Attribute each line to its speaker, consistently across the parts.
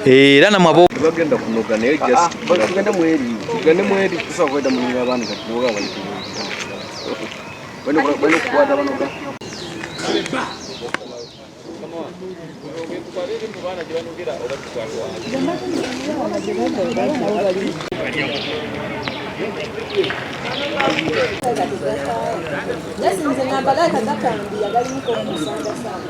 Speaker 1: era namwe abo bagenda kunoga naye
Speaker 2: ah, just ah, tugende mweri tugende mweri tusobola kwenda mu nyumba abantu kati noga bali ku bano bano kukwata banoga Yes, nze nambala akagakambi yagalimu kwomusanga
Speaker 1: sana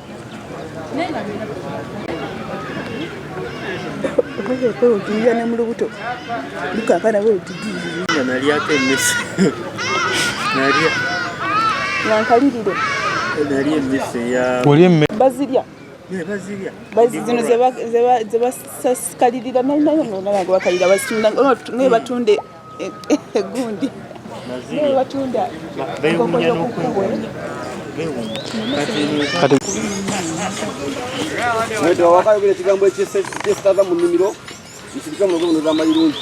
Speaker 3: kwewutulira ne mu lubuto lukankana wewutudinga nalyako emmese
Speaker 2: nalya
Speaker 3: nankalirire
Speaker 2: nalya emmese ya oli emme bazirya
Speaker 3: zino zebasakalirira nayo nayo nolaba nga bakalira batunde egundi watunda
Speaker 2: wakayogera ekigambo ekyesitaza mu nnimiro nsirika mulogo buno zamayirungi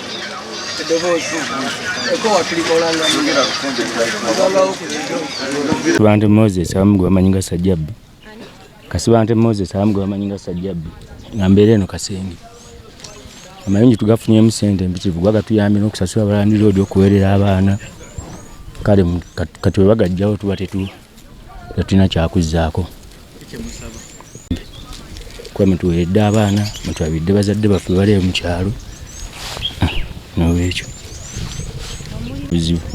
Speaker 4: Kasibante Moses abamu gwe bamanyi nga Sajjabbi. Kasibante Moses abamu gwe bamanyi nga Sajjabbi. Nga mbeera eno Kasenge. Amayinji tugafunyemu sente mpitirivu kuba gatuyambye n'okusasula abalandi loodi okuweerera abaana. Kale kati bwe bagajjawo tuba tetuwa. tetulina kyakuzzaako kuba mutuweredde abaana mutwabidde bazadde baffe baleyo mu kyalo ah, nolwekyo buzibu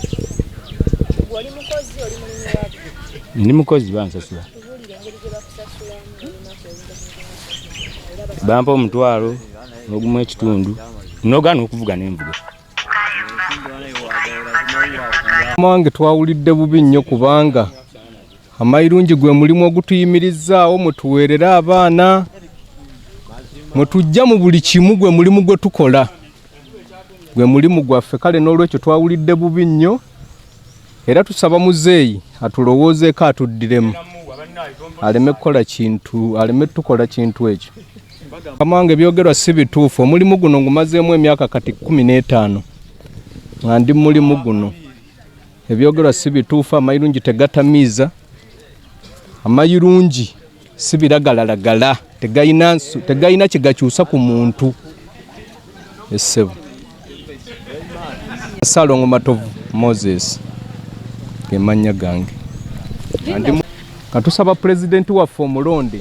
Speaker 4: ndi mukozi bansasula bampa omutwalo nogumu ekitundu nogana okuvuga nenvuga
Speaker 5: Mwange twawulidde bubi nnyo kubanga amayirungi gwe mulimu ogutuyimirizaawo mutuweerere abaana mwe tujja mu buli kimu gwe mulimu gwe tukola gwe mulimu gwaffe kale n'olwekyo twawulidde bubi nnyo era tusaba muzeeyi atulowoozeeko atuddiremu aleme kukola kintu aleme tukola kintu ekyo Mukama wange ebyogerwa si bituufu. Omulimu guno ngumazeemu emyaka kati kumi n'etaano nga ndi mulimu guno. Ebyogerwa si bituufu, amayirungi tegatamiiza, amayirungi si biragalalagala, tegalina kye gakyusa ku muntu. Essebo Salongo Matovu Moses ge mannya gange. Katusaba pulezidenti waffe omulonde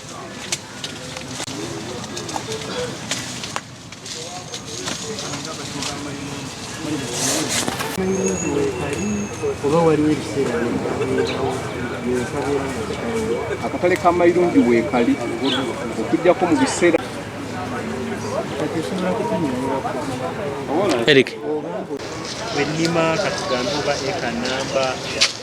Speaker 5: oba waliwo ebiseera akatale ka mayirungi weekali okujjako mu biseera
Speaker 1: eric
Speaker 6: wenima katugambe oba eka namba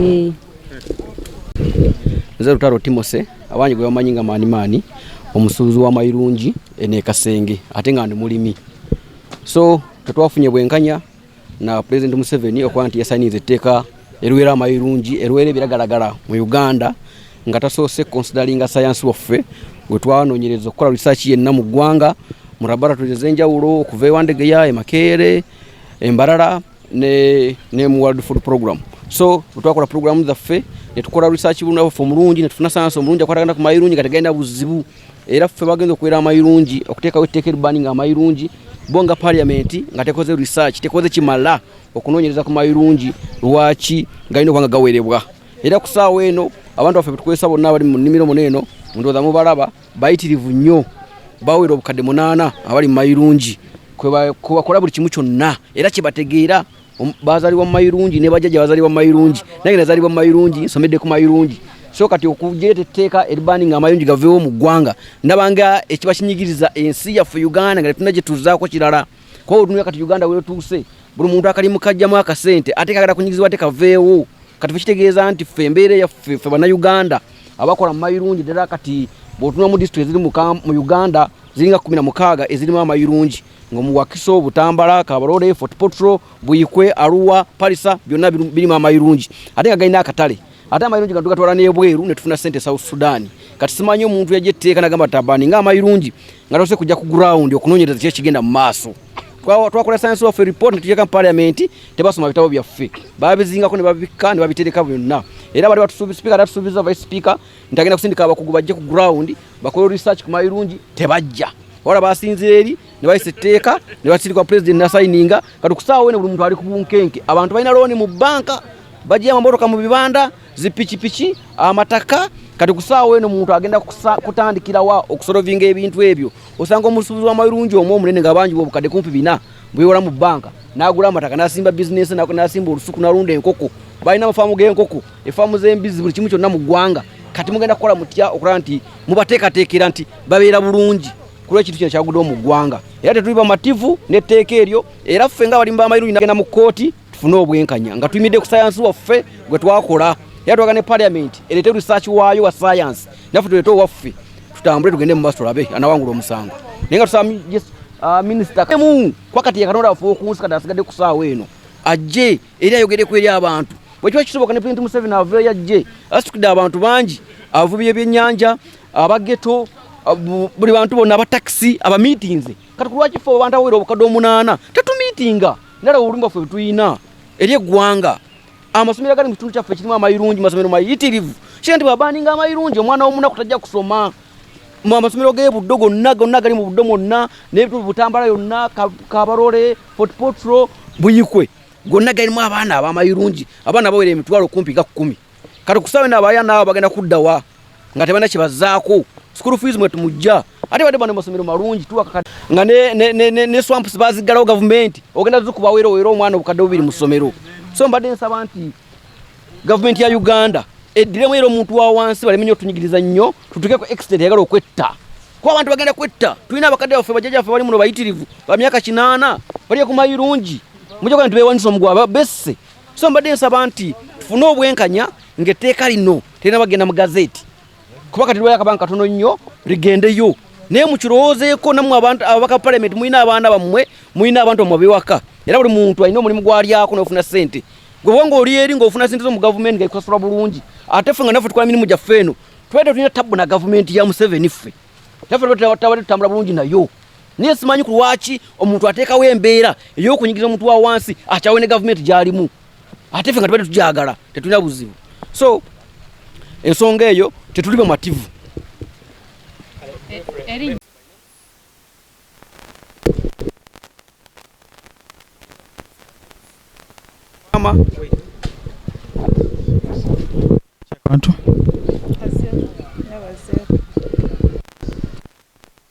Speaker 2: Eh. nze lutalo timose abangi gwe bamanyi nga maani maani omusuubuzi w'amayirungi enekasenge ate nga ndi mulimi so tetwafunye bwenkanya na president museveni okuba nti yasaniiza etteeka erwera amayirungi erwera ebiragalagala mu uganda nga tasoose consideringa sayansi waffe gwe twanonyereza okukola risaaki yenna mu ggwanga mu laboratories ezenjawulo okuva ewandegeya emakeere embarara ne ne mu world food program so twakola program zaffe netukola research buno baffe omulungi netufuna sayansi omulungi akwatagana ku mayirungi kategenda buzibu era ffe bagenza okuwera amayirungi okuteekawo etteeka erbani nga amayirungi bo nga parliament nga tekoze research tekoze kimala okunoonyereza ku mayirungi lwaki galina okubanga gawerebwa era ku saawa eno abantu baffe betukozesa bonna abali mu nnimiro muno eno ndowooza mubalaba bayitirivu nnyo bawera obukadde munaana abali mumayirungi kwebakola buli kimu kyonna era kyebategeera bazalibwa mumayirungi nebajjaja bazalibwa mumayirungi nange nazalibwa mumayirungi nsomedde ku mayirungi so kati okujeeta etteeka eribani nga amayungi gaveewo mu ggwanga ndabanga ekiba kinyigiriza ensi yaffe uganda nga tetuna gyetuzaako kirala kuba otunula kati uganda wetuuse buli muntu akalimu kajjamu akasente ate kagala kunyigizibwa te kaveewo kati fe kitegeeza nti ffe embeera yaffe ffe bannayuganda abakola mu mayirungi ddala kati bw'otunula mu disitulikiti eziri mu uganda ziringa kumi na mukaaga ezirimu amayirungi nga mu wakiso butambala kabalole fort potro buikwe aruwa parisa byonna birimu amayirungi ate nga galina akatale ate amayirungi gano tugatwala n'ebweru ne tufuna ssente e south sudan kati simanyi omuntu yajja etteeka nagamba tabani nga amayirungi nga tose kujja ku gurawundi okunoonyereza ki ekigenda mu maaso twakola science of report netujeka mu parliament tebasoma bitabo byaffe babizingako nebabikka nebabitereka byonna era bali batusuubispeaker atusuubiza vice speaker nti agenda kusindika abakugu bajje ku ground bakole research ku mayirungi tebajja wala basinzira eri nebayisa etteeka nebasindikwa president nasayininga kati kusaawo wene buli muntu ali ku bunkenke abantu balina looni mu banka bajiya mamotoka mu bibanda zipikipiki amataka kati kusaawo wene omuntu agenda kutandikirawa okusolovinga ebintu ebyo osanga omusuubuzi w'amayirungi omu omunene nga bangi bobukadde kumpi bina bwewola mu bbanka n'agula amataka n'asimba bizinensi n'asimba olusuku n'alunda enkoko balina amafaamu g'enkoko efaamu z'embizzi buli kimu kyonna mu ggwanga kati mugenda kukola mutya okulaba nti mubateekateekera nti babeera bulungi kulwa ekintu kino kyaguddewo mu ggwanga era tetuli bamativu n'etteeka eryo era ffe nga abalimi b'amayirungi nagenda mu kkooti tufune obwenkanya nga tuyimidde ku sayansi waffe gwe twakola era twaga ne paliamenti ereete research waayo wa sayansi naffe tuleete owaffe tutambule tugende mubasi tulabe anawangula omusango naye nga tusaba uh, minisita mu kwakati yakatonda waffe okunsi kati asigadde ku saawa eno ajje eri ayogereku eri abantu bwekiba kisoboka ne pulenti museveni aveeyo ajje asitukidde abantu bangi abavubi ebyennyanja abageto buli bantu bonna abatakisi abamiitinze kati kulwaki fe abantu awera obukadde omunaana tetumiitinga nalaba obulumi bwaffe bwetulina eri eggwanga amasomero agali mu kitundu kyaffe kirimu amayirungi masomero mayitirivu kira nti bwabaninga amayirungi omwana womunaku tajja kusoma mu amasomero g'ebuddo gonna gonna agali mu buddo mwonna n'ebitundu butambala yonna kabarole fortpotro buyikwe gonna galimu abaana abamayirungi abaana bawera emitwalo kumpi ga kkumi kati kusawe na baya nabo bagenda kudda wa nga tebana kibazaako school fees mwe tumujja ate bade bano masomero malungi tuwa kakati nga ne ne ne, ne, ne swamps bazigalawo government ogenda zukuba wero wero omwana obukadde bubiri mu somero so mbadde nsaba nti government ya Uganda eddire mwero omuntu wa wansi balemenye otunyigiriza nnyo tutuke ku extent yagala okwetta kuba abantu bagenda kwetta tulina abakadde baffe bajjaja baffe bali muno bayitirivu ba myaka kinaana bali ku mayirungi mujja kuba nti bewanisa omugwa besse so mbadde nsaba nti tufune obwenkanya ng'etteeka lino terina bagenda mu gazeeti kuba kati lwayo akabanga katono nnyo ligendeyo naye mukirowoozeeko nammwe abantu ababaka palamenti mulina abaana bammwe mulina abantu bammwe abewaka era buli muntu alina omulimu gwalyako nofuna sente gwewa nga oli eri ngaofuna sente zo mu gavumenti nga ikusasulwa bulungi ate ffe nga naffe tukola mirimu gyaffe eno tubadde tulina tabbu na gavumenti ya museveni ffe naffe tabadde tutambula bulungi nayo Naye simanyi ku lwaki omuntu ateekawo embeera ey'okunyigiriza omuntu wa wansi akyawe ne gavumenti gy'alimu ate ffe nga tubadde tugyagala tetulina buzibu so ensonga eyo tetuli bamativu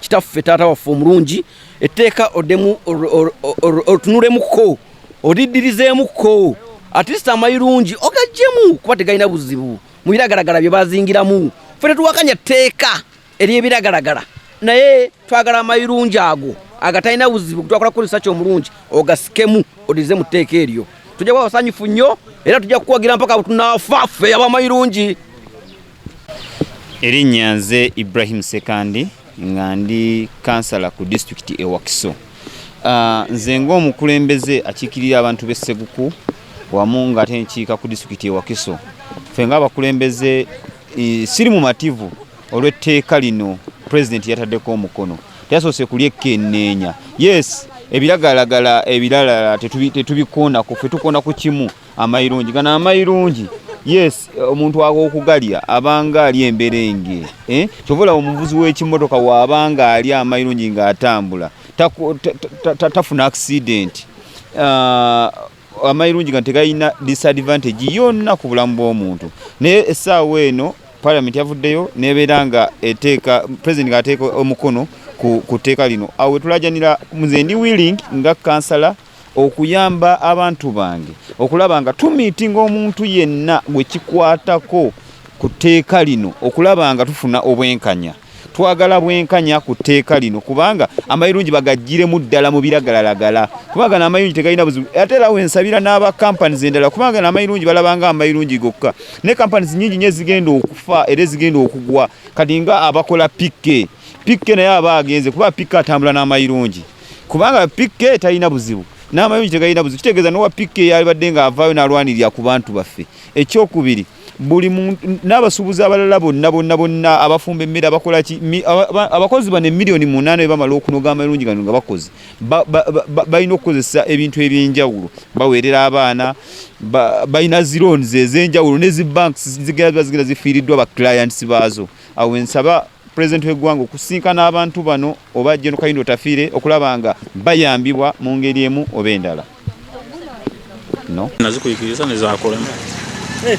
Speaker 2: kitaffe taata waffe omulungi etteeka odemu otunulemuko odidirizeemuko atist amayirungi ogajjemu kuba tegalina buzibu mu biragalagala bye bazingiramu fe tetuwakanya tteeka eryebiragalagala naye twagala amayirungi ago agatalina buzibu gutwakola kukozesa ki omulungi ogasikemu odize mu tteeka eryo tujja kuba basanyufu nnyo era tujja kukuwagira mpaka tunaafa ffe abamayirungi
Speaker 7: Erinnya nze Ibrahim Sekandi nga ndi kansala ku disitulikiti e Wakiso. Ah, nze ng'omukulembeze akiikirira abantu b'e Seguku wamu ng'ate nkiika ku disitulikiti e Wakiso. Ffe ng'abakulembeze siri mumativu olw'etteeka lino pulezidenti yataddeko omukono. Teyasoose kulyekkenneenya. Yes, ebiragalagala ebirala tetubikoonako, ffe tukoona ku kimu. amayirungi gano amayirungi yes omuntu awo okugalya abanga ali emberenge eh? kyobola omuvuzi w'ekimotoka waabanga ali amayirungi ng'atambula tafuna accident ah, amayirungi gano tegalina disadvantage yonna ku bulamu bw'omuntu naye essaawa eno parliament yavuddeyo nebeera nga eteeka president ng'ateeka omukono ku tteeka lino awo wetulajanira muze ndi willing nga kansala okuyamba abantu bange okulaba nga tumiitinga omuntu yenna gwe kikwatako ku tteeka lino okulaba nga tufuna obwenkanya twagala bwenkanya ku tteeka lino kubanga amayirungi bagajjiremu ddala mu biragalalagala kubanga n'amayirungi tegalina buzibu ate era wensabira n'aba companies endala kubanga n'amayirungi balabanga amayirungi gokka ne companies nyingi nyo ezigenda okufa era ezigenda okugwa kati nga abakola pikke pikke naye aba agenze kuba pikke atambula n'amayirungi kubanga PK talina buzibu n'amayonji tegalina buzibu kitegeeza nowa PK yalibadde ng'avaayo n'alwanirira ku bantu baffe ekyokubiri buli n'abasuubuzi abalala bonna bonna bonna abafumba emmere abakola ki abakozi bano emiliyoni munaana be bamala okunoga amalungi gano nga bakoze balina okukozesa ebintu eby'enjawulo baweerera abaana balina ziroons ez'enjawulo ne zi banks zigera ziba zigenda zifiiriddwa ba clients baazo awo ensaba pulezidenti w'eggwanga okusinkana abantu bano oba Gen Kayindo Otafiire okulaba nga bayambibwa mu ngeri emu oba endala no nazikuyikiriza
Speaker 1: nezakolemu
Speaker 6: eh,